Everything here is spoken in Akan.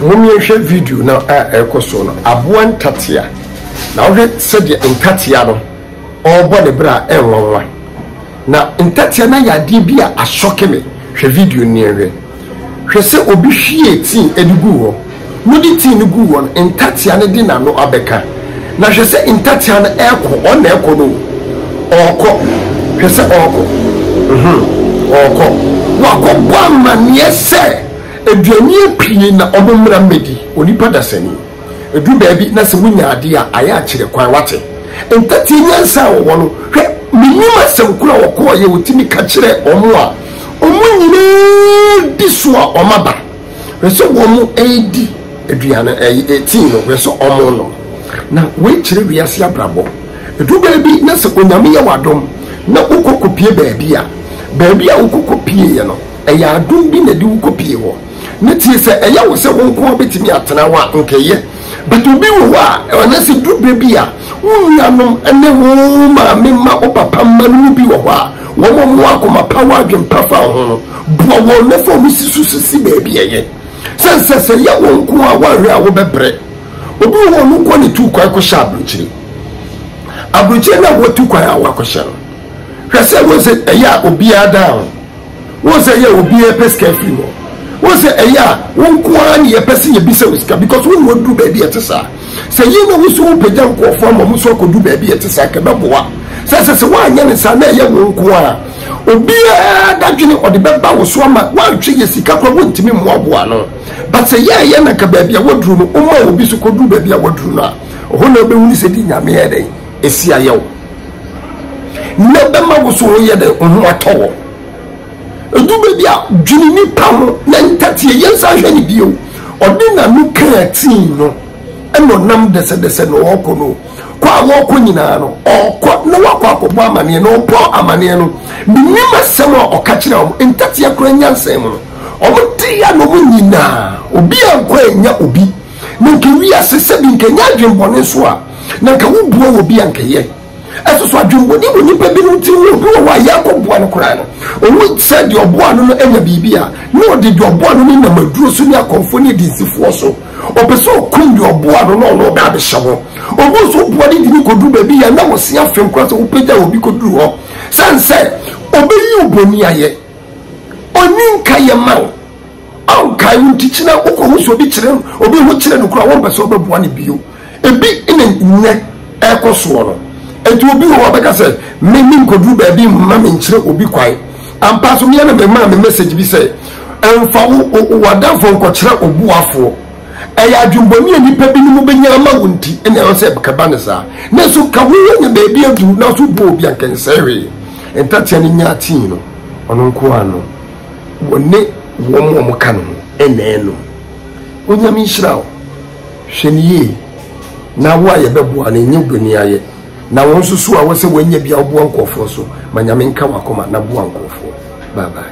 Momyɛnhwɛ video no a ɛrekɔ so no, Aboa Ntatea. Na wohwɛ sɛdeɛ ntatea no ɔrebɔ ne bra a, ɛnwanwa. Na ntatea no ayɛ adeɛ bi a asɔke me. Hwɛ video no na yɛnhwɛ. Hwɛ sɛ obi hwiee tea de guu hɔ. Wode tea no guu hɔ no, ntatea no de n'ano abɛka. Na hwɛ sɛ ntatea no rekɔ, ɔno na ɛrekɔ no o. Ɔrekɔ. Hwɛ sɛ ɔrekɔ. Uhum, ɔrekɔ. Wakɔbɔ amanneɛ sɛ. Aduanea pii na ɔmo mmara mmɛdi onipa dasani. Ɛduru baabi na sɛ wonya adeɛ a, ayɛ akyerɛ kwan, wate. Ntateɛ nyansa a wɔwɔ no, hwɛ, menim asɛm koro a wɔkɔɔeɛ a wɔtumi ka kyerɛɛ wɔn a wɔn nyinaa di so a wɔn aba, hwɛ sɛ wɔn redi aduane, ɛɛ, tii no, hwɛ sɛ wɔn renom. Na wei kyerɛ wiase abrabɔ. Ɛduru baabi na sɛ Onyame yɛ wo adom na wokɔ kɔpie baabi a, baabi a wokɔ kɔpieeɛ no, Ɛyɛ adom bi na ɛde wo kɔpue hɔ. Na tie, sɛ ɛyɛ wo sɛ wo nko ara bɛtumi atena hɔ a, nka ɛyɛ. But obi wɔ hɔ a, anaasɛ duru berɛ bi a, wo nuanom ne wo maame mma, wo papa mma no mu bi wɔ hɔ a, wɔn a wɔwɔ akoma pa, wɔ adwene pa fa wo ho no, boa wɔn na fa wɔn si so so si baabi a ɛyɛ. Sɛne sɛ, sɛ ɛyɛ wo nko ara a, woanhwɛ a wobɛbrɛ. Obi wɔ hɔ a, ɔno nko ara na ɛtu kwan kɔhyɛ aburokyire. Aburokyire no a watu kwan a wakɔhyɛ no, hwɛ sɛ wohu sɛ ɛyɛ a obiara dan ho. Wohu sɛ ɛyɛ a obiara pɛ sika firi hɔ. Wohu sɛ ɛyɛ a wo nko ara ne yɛpɛ sɛ yɛbisa wo sika because wo ne wɔduru baabi a ɛte saa. Sɛ yei na wo nso wopagya nkurɔfoɔ ama wɔn nso akɔduru baabi a ɛte saa nka ɛbɛboa. Sɛ ɛsɛ sɛ woanyɛ ne saa na ɛyɛ wo nko ara obiara dadwene ɔde bɛba wo so ama woantwe yɛ sika koraa wontumi mmoaboa no. But sɛ yɛ ɛyɛ na nka baabi a wɔduru no woma obi so kɔduru baabi a wɔduru no a, ɛhɔ na wobɛhunu sɛ di Nyame yɛ dɛn ɛsi ayɛ wo. nea ɛbɛma wo so yɛ dɛ wo ho atɔ wɔ ɛdu baabi a dwene nipa ho na ntateɛ yɛnsa hwɛ ne bio ɔde n'ano kaa tii no ɛna ɔnam dɛsɛdɛsɛ na ɔrekɔ no kɔ a wɔrekɔ nyinaa no ɔrekɔ na wakɔ akɔbɔ amaneɛ na ɔbɔ amaneɛ no menim asɛm a ɔka kyerɛ wɔn ntateɛ koraa nyansɛn mu no wɔn te ya na wɔn nyinaa obi a nkɔ anya obi Na nka wiase sɛbi nka nyɛ adwembɔne nso a, na nka wo boa wɔ bi a nka yɛ. Ɛso so adwembɔne wɔ nipa binom tiri mu, obi wɔ hɔ a yɛn kɔ boa no koraa no, owu sɛ deɛ ɔboa no no anya biribi a, na ɔde deɛ ɔboa no no nam aduro so ne akɔmfoɔ ne adinsifoɔ so, ɔpɛ sɛ ɔkum deɛ ɔboa no na ɔno ɔbɛ abɛhyɛ hɔ. Obu nso woboa no de no kɔduru baabi yɛ a na wɔse afem koraa sɛ wopagya obi kɔduru hɔ sane sɛ ɔbɛyi wo bɔne ayɛ, ɔnni nka yɛ ma wo. Ao, kae wo ntikyi na wokɔhu sɛ obi kyerɛ obi ho kyerɛ no kura a wɔmpɛ sɛ wɔbɛboa no bio. Ebi na nnɛ ɛrekɔ soɔ no. Enti obi wɔ hɔ bɛka sɛ, me menkɔduru baabi mma menkyerɛ obi kwan. Ampa so meɛ na memaa me message bi sɛ, mfa wo w'adamfo nkɔkyerɛ wo boafoɔ. Ɛyɛ adwembɔne a nnipa binom bɛnya ama wo nti na ɛwɔ sɛ ɛkɛba no saa. Nanso ka wo anya baabi aduru nanso wobɔ obi a nka ɛnsɛe hwee. Ntatea no nya atii no, ɔno nko ara no. Wɔne wɔn a wɔka ne ho nnɛɛ no. Onyame nhyira wo. Hwɛ no yie na wo a yɛbɛboa no nyɛ wobaniayɛ na wo nso so a wosɛ woanya bi a woboa nkurɔfoɔ so ma Nyame nka w'akoma na boa nkurɔfoɔ. Bye bye.